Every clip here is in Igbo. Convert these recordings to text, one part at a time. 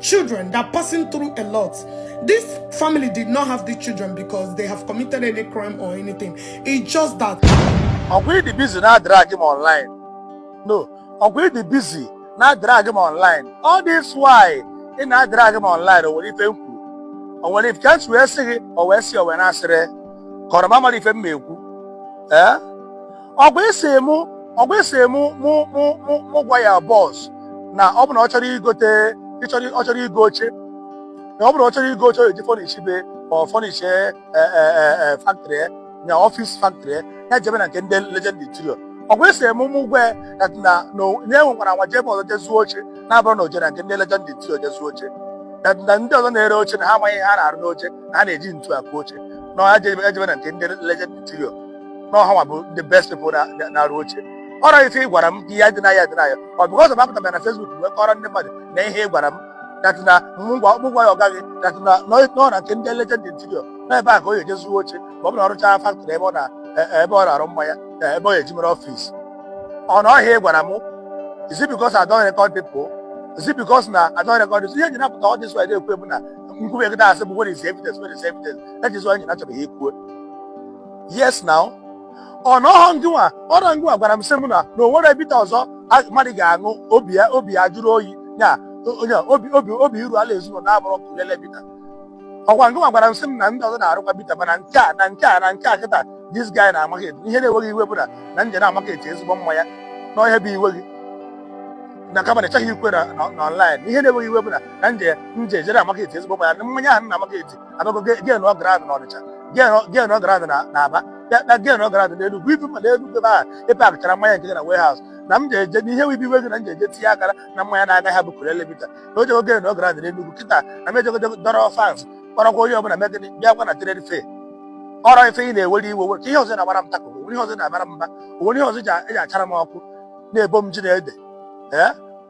children that are passing through a lot. This family did not have the children because they have committed any crime or anything. It's just that. Ọ bụ gị dị busy na-drag m online. No, ọ bụ gị dị busy na-drag m online. All this while ị na-drag m online o nwere ife m kwuru. O nwere ife ka esi wee sị gị o wee sị o wee na-asịrị kọrọ mamara ife m ma ekwu. Eh? ọkwa ị sị mụ ọkwa ị sị mụ mụ mụ mụ mụ gwa ya boss na ọ bụ na ọ chọrọ igote ịchọrọ ọ chọrọ igo oche na ọ bụ na ọ chọrọ igo oche ọ eji furnish be ọ furnish factory na office factory ya jebe na nke ndị legend interior ọkwa ị sị mụ mụ gwa ya that na na o- na anwakwala anwa jee ebe ọzọ je zụọ oche na-abụrọ na o jere na nke ndị legend interior je zụọ oche na na ndị ọzọ na-ere oche na ha amaghị ihe ha na-arụ n'oche na ha na-eji ntu akụ oche na ọ ya jebe ya jebe na nke ndị legend interior na ọ hanwa bụ the best people na- na- na-arụ oche ọrọ ife ị gwara m ka ị ye deny ya deny ya ọ because m apụtarọ na Facebook wee kọrọ ndị mmadụ na ihe ị gwara m that na mụ gwa mụ gwa ya ọga gị that na nọ nọ na nke ndị legend interior na ebe a ka ọ ye-eje zụọ oche ma ọ bụ na ọ rụchaa factory ebe ọ na e- ebe ọ na-arụ mmanya e, ebe ọ ye-eji mere office ọ na ọ ihe a ị gwara m is it because I don't record people is it because na I don't record this ihe ji na-apụta all this while ekwu bụ na m kwube kịta a sị bụ where is the evidence where is the evidence that is why anyị na-achọbeghị ikwuo yes now ọ na ọhọ ngịnwa ọrọ ngịnwa gwara m sị m na na o nwere bitter ọzọ a- mmadụ ga-aṅụ obi ya obi ya jụrụ oyi ya onye obi obi obi iru ala ezinụlọ na-abụrọ Okulele bitter ọkwa ngịnwa gwara m sị m na ndị ọzọ na-arụkwa bitter mana nke a na nke a na nke a kịta this guy na-market ihe na-ewe gị iwe bụ na na m je na-market ezigbo mmanya na ọ ihe a bụ iwe gị na kama na ị chọghị ikwu na na- na online ihe na-ewe gị iwe bụ na na m je m je jere market ezigbo mmanya na mmanya ahụ na-market abịago gain ground n'ọnịcha gain ground na aba bịa gain ground n'enugwu even ma n'enugwu ebe ahụ ebe a packchara mmanya nke na warehouse na m ga-eje na ihe wibi wego na m ga-eje tinye akara na mmanya na-anaghị abụ Okulele bitter na o jego gain ground n'enugwu kịta na m ejego dọrọ fans kpọrọkwa onye ọbụla mee gịnị bịakwa na trade fair ọrọ ife ị na-ewere iwe were ka ihe ọzọ ị na-agbara m tako onwere ihe ọzọ ị na-abara m mba onwere ihe ọzọ ị ji achara m ọkụ na-ebo m ji na ede ee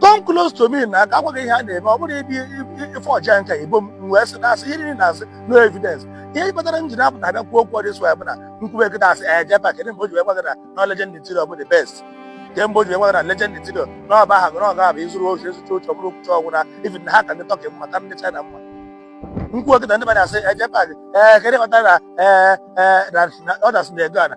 come close to me na ka agwa gị ihe a na-eme ọ bụrụ ịdị ife ọja nka igbo m m wee sị na-asị ihe niile na-asị no evidence ihe kpatara m ji na-apụta abịa kwuo okwu all this while bụ na m kwube kịta a sị ee Jpac kedụ mgbe o ji wee gwa gị na na legend interior bụ the best nke mgbe o ji wee gwa gị na legend interior na ọ be ha gị na ọ ga-abụ ịzụrụ ozu ịzụcha oche ọ bụrụ okwucha ọgwụ na even ha ka ndị turkey mma ka ndị china mma m kwuo kịta ndị mmadụ asị ee Jpac gị ee kedụ kpatara na ee ee na na- ọ dasị na ego ana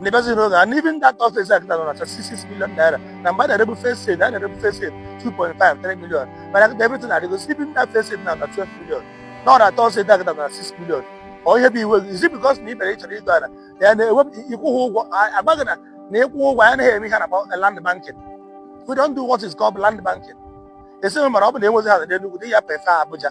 ndị bezi na oge and even that third phase a kịta nọ na 66 million naira na mgbe a na-erebu first phase a na-erebu first phase 2.5 3 million mana kịta everything adịgo even that first phase nọ na 12 million na ọ na third phase a kịta na 6 million ọ ihe bụ iwe gị is it because na ị bịara ịchọrọ ịgo ala ya na-ewepụ ịkwụghị ụgwọ agbaghị na na ịkwụ ụgwọ ya anaghị eme ihe a na-akpọ land banking we don't do what is called land banking esighị mara ọ bụ na enwezi ha na Enugu dị ya pefe Abuja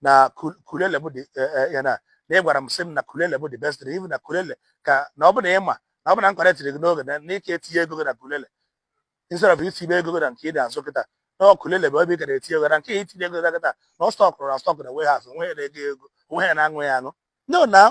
na kulele bụ the eh, eh, ya na na ị gwara m sị m na kulele bụ the best even na kulele ka na ọ bụ na ị ma na ọ bụ na nkọrọ tiri gị n'oge na ị ka-etinye ego gị na kulele instead of itinye ego gị na nke ị na-azụ kịta na ọ kulele bụ ebe ị gara etinye ego na nke itinye ego gị kịta na ọ stọkụrụ na stock na warehouse o nwe onye na-ego ego o nwe onye na-aṅụ ya aṅụ no now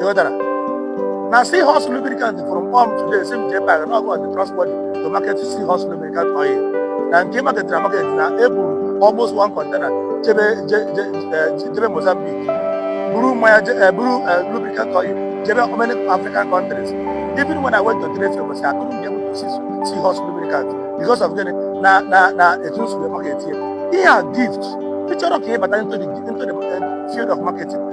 ịghọtara na Seahorse lubricant from pump today si m J Park na ọgụ ọdị transport to market Seahorse lubricant oil na nke market na market na eburu almost one container jebe je- je- eh, jebe mozambique buru mmanya je- eh, buru eh, lubricant oil jebe many african countries even when i went to trade fair was i couldn't be able to see Seahorse lubricant because of gịnị na na na etu nsogbu market here ihe a gift ị chọrọ ka ị bata into the into the eh, field of marketing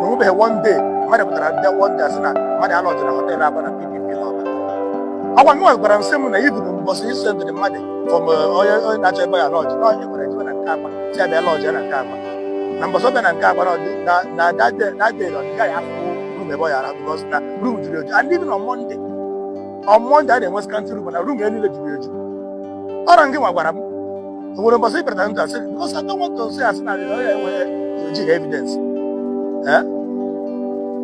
na onwebeghị one day mmadụ pụtara ndị one day asị na mmadụ a-lodge na hotel aba na pdp na ọba ọkwa nwa gwara m sị m na even na mbọsị isi ndịrị mmadụ fọm onye onye na-achọ ebe ọ ya-lodge na onye gwara ya jebe na nke agba si a bịa lodge ya na nke agba na mbọsị ọbịa na nke agba na ọdị- na na that day na that day na ọdịga ya afụ room ebe ọ ya ara because na room juru eju and even on Monday on Monday a na-enwe scanty room na room ya niile juru eju ọ rọ ngị nwa gwara m o nwere mbọsị ịbịara na ndụ asị because I don't want to say asị na onye enweghị o jighị evidence Eh?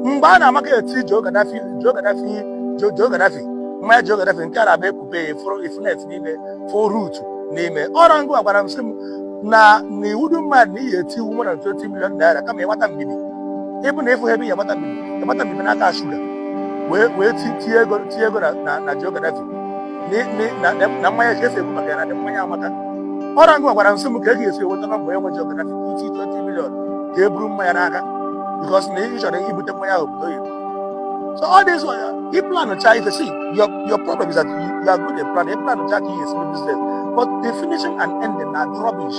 mgbe a na-amarket Joe Gaddafi Joe Gaddafi Joe Joe Gaddafi mmanya Joe Gaddafi nke a na-abịa e kpube ya fụrụ ifunet n'ime fụ root n'ime ọ rọ ngị gwara m sị m na na iwu dị mmadụ na iyi eti iwu more than 20 million naira kama ịgbata mbibi even na ịfụ ha ebe ya gbata mbibi ịgbata mbibi n'aka shuga wee wee ti- tie ego tie ego na na- na Joe Gaddafi na mmanya ka esi ekwu maka ya na the mmanya amaka ọ rọ ngị nwa gwara m sị m ka e ga-esi enweta nọmba onye nwe Joe Gaddafi i ti 20 million ka e buru mmanya n'aka because na ị chọrọ ibute mmanya ahụ obodo oyibo so all this one ị plan cha ife si your your problem is that you, you are good at plan ị plan cha ka ihe esi business but the finishing and ending na rubbish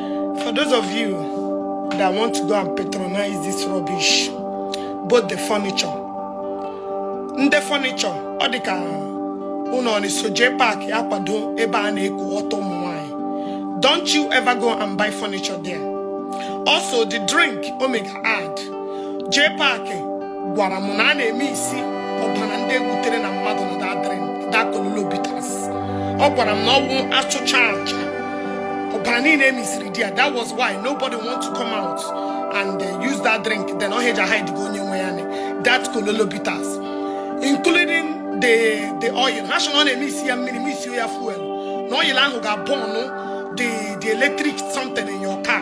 For those of you that want to go and patronize this rubbish, both the furniture, ndị furniture, ọ dị ka unu na-eso J Park akwado ebe a na-ekwu ọtọ ụmụ nwanyị. Don't you ever go and buy furniture there. Also, the drink, Omega. ad JPAC gwara m na a na-emixi ọbara ndị egbutere na mmadụ na that drink that kololo bitters ọ gwara m na ọ wụ achụcha aja ọbara niile emixiri there that was why nobody want to come out and uh, use that drink then ọ heja hide gị onye nwe ya ni that kololo bitters including the the oil ha sị na ọ na-emixi ya mmiri mixi ya fuel na oil ahụ ga-abọnụ the the electric something in your car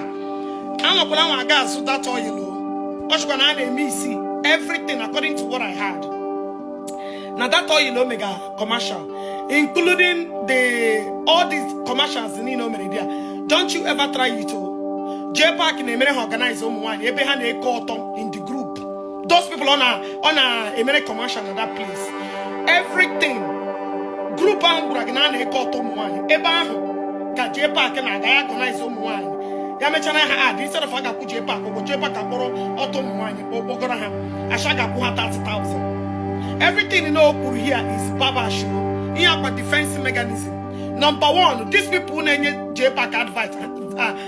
anwakwala anwa aga azụ that oil o ọ chịkwa na a na-emixi everything according to what I heard na that oil o mega commercial including the all these commercials niile o mere there don't you ever try it ọ JPAC na-emere ha organize ụmụ nwaanyị ebe ha na-eke ọtọ in the those people ọ na ọ na-emere commercial na that place everything group ahụ gwara gị na a na-eke ọtọ ụmụ nwaanyị ebe ahụ ka JPAC na-aga organize ụmụ nwaanyị ya mechara ha ad instead of a ga-akwụ JPAC ụgwọ JPAC akpọrọ ọtọ ụmụ nwaanyị kpọgọrọ ha asha ga-akwụ ha 30,000 everything na o kwuru here is babash ihe a kwa defense mechanism number one these people na-enye JPAC advice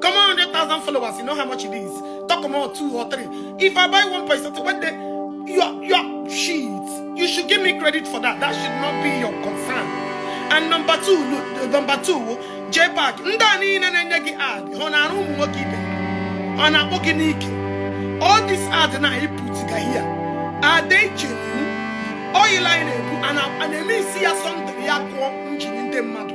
Common 100,000 followers, you know how much it is. Talk about two or three. If I buy one person, one day, your, your shit, you should give me credit for that. That should not be your concern. And number two, number two, JPAC, ndị a niile na-enye gị ad, ọ na-arụ ụmụ nwoke ibe ọ na-akpọ gị n'ike. All this ad na ị pụtụga here, are they genuine? Oil anyị na-ebu, a na-emixi ya something ya kụọ engine ndị mmadụ.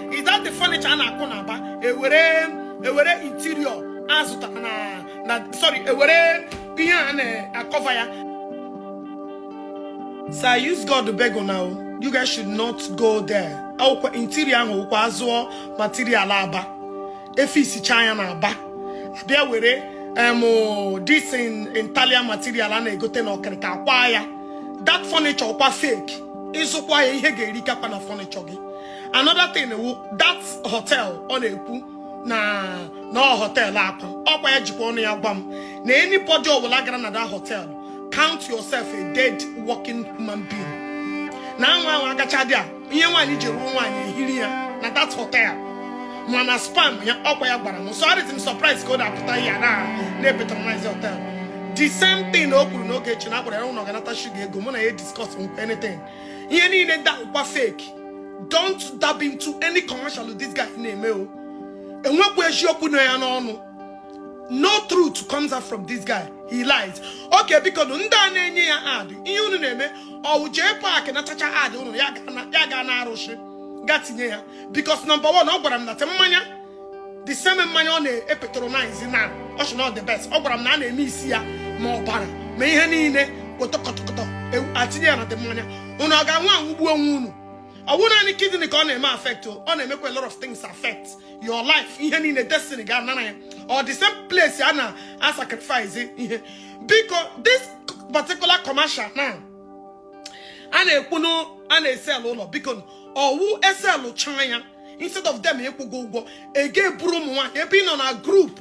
is that the furniture a na-akụ na Aba ewere ewere interior azụtara na na sorry ewere ihe a na-akọva ya so I use God to beg una you guys should not go there akwụkwọ interior ahụ wụkwa azụọ material Aba efixichaa ya na Aba abịa were em this thing Italian material a na-egote na ọkịrịka kwaa ya that furniture ọkwa fake ị zụkwa ya ihe ga-erikakwa na furniture gị another thing wụ that hotel ọ na-ekwu na na hotel akwa ọkwa ya jikwa ọnụ ya gwa m na anybody ọbụla gara na that hotel count yourself a dead walking human being na anwa anwa agacha there ihe nwaanyị ji ruo nwaanyị eliri ya na that hotel ma na sperm ya ọkwa ya gwara m so adịtị m surprise ka ọ na-apụta ya na na-apatronize hotel the same thing o kwuru n'oge echi na agbara ya ụlọ ganata shuga ego mụ na ya discuss anything ihe niile ndị a wụkwa fake don't dab into any commercial this guy na-eme o enwekwa eziokwu na ya n'ọnụ no truth comes out from this guy he lies okay bikonu ndị a na-enye ya ad ihe unu na-eme ọ wụ JPAC nachacha ad unu ya gaa n'arụsị gaa tinye ya because number one ọ gwara m na the mmanya the same mmanya ọ na-epatronize na ọ sị na ọ the best ọ gwara m na a na-emix ya ma ọbara ma ihe niile kọtọkọtọkọtọ a tinye ya na the mmanya unu ọ ga-aṅụ aṅụgbuo onwe unu ọ wụ naanị kidney ka ọ na-eme affect ọ na-emekwa a lot of things affect your life ihe niile destiny gị a nara ya ọ the same place a na-asacrifice ihe biko this particular commercial now a na-ekwu na a na-esell ụlọ biko ọ wụ e sellchaa ya instead of them ịkwụ gị ụgwọ ego eburu ụmụ nwaanyị ebe ị nọ na group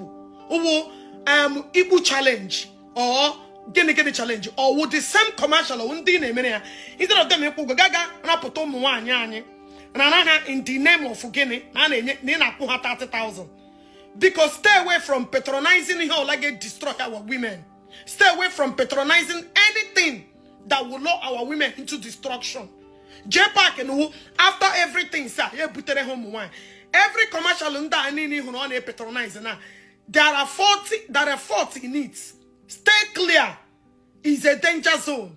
ọ wụ um, ikpu challenge or gịnị gịnị challenge ọ wụ the same commercial ọ wụ ndị na-emere ya instead of them ịkwụ ụgwọ ga-aga rapụta ụmụ nwaanyị anyị na-ara ha in the name of gịnị na a na-enye na ị na-akwụ ha 30,000 biko stay away from patronizing ihe ọwụla ga-edestroy our women stay away from patronizing anything that will lure our women into destruction JPAC na ọ wụ after everything sị ya butere ha ụmụ nwaanyị every commercial ndị a niile ị hụrụ ọ na-epatronize na there are faulty there are faulty in it stay clear is a danger zone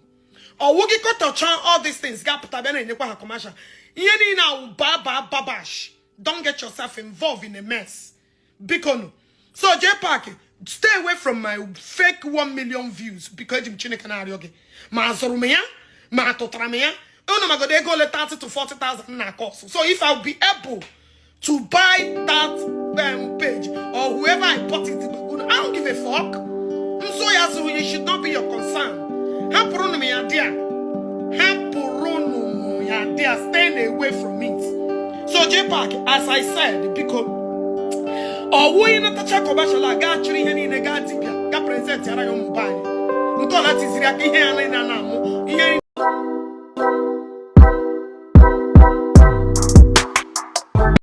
ọ wụ gị ghọtacha all these things gị apụta bịa na-enyekwa ha commercial ihe niile a wụ baba babash don't get yourself involved in a mess bikonu so JPAC stay away from my fake 1 million views biko eji m chineke na-arịọ gị ma azụrụ m ya ma atụtara m ya unu magodo ego ole 30 to 40,000 na-acost so if I'll be able to buy that um, page or whoever I bought it I don't give a fuck nso ya zụrụ it should not be your concern hapụrụnụ m ya there hapụrụnụ m ya there stay away from it so JPAC as I said biko ọ wụghị natacha commercial a gaa chịrị ihe niile gaa dibịa gaa presentiara ya ụmụ be anyị ntọala tiziri aka ihe ya niile a na-amụ ihe